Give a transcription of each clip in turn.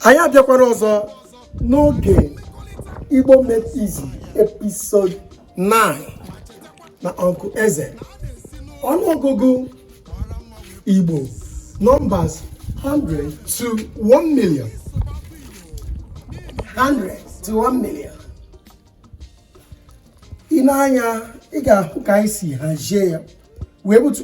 anyị abịakwara ọzọ n'oge Igbo Made Easy episode 9 na Uncle Eze ọnụọgụgụ Igbo numbers 100 to 1 million 100 to 1 million ị nee anya ị ga-ahụ ka anyị si hazie ya wee butu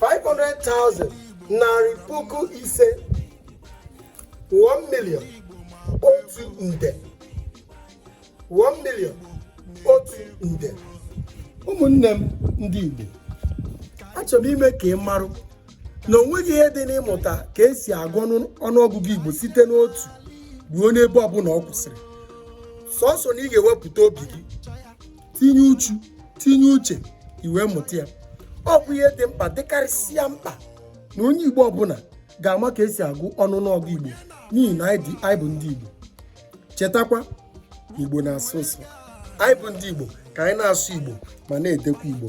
500,000 narị puku ise 1 million otu nde 1 million otu nde ụmụnne m ndị Igbo achọrọ m ime ka ị marụ na o nweghị ihe dị n'ịmụta ka esi agụ ọnụọgụgụ Igbo site n'otu ruo n'ebe ọbụla ọ kwụsịrị sọsọ na ị ga-ewepụta obi gị tinye uchu tinye uche ị wee mụta ya ọ bụ ihe dị mkpa dịkarịsịa mkpa na onye igbo ọbụla ga-ama ka esi agụ ọnụ ọnụọgụ igbo n'ihi na anyị bụ ndị igbo chetakwa igbo na-asọ ụsọ anyị bụ ndị igbo ka anyị na-asụ igbo ma na-edekwa igbo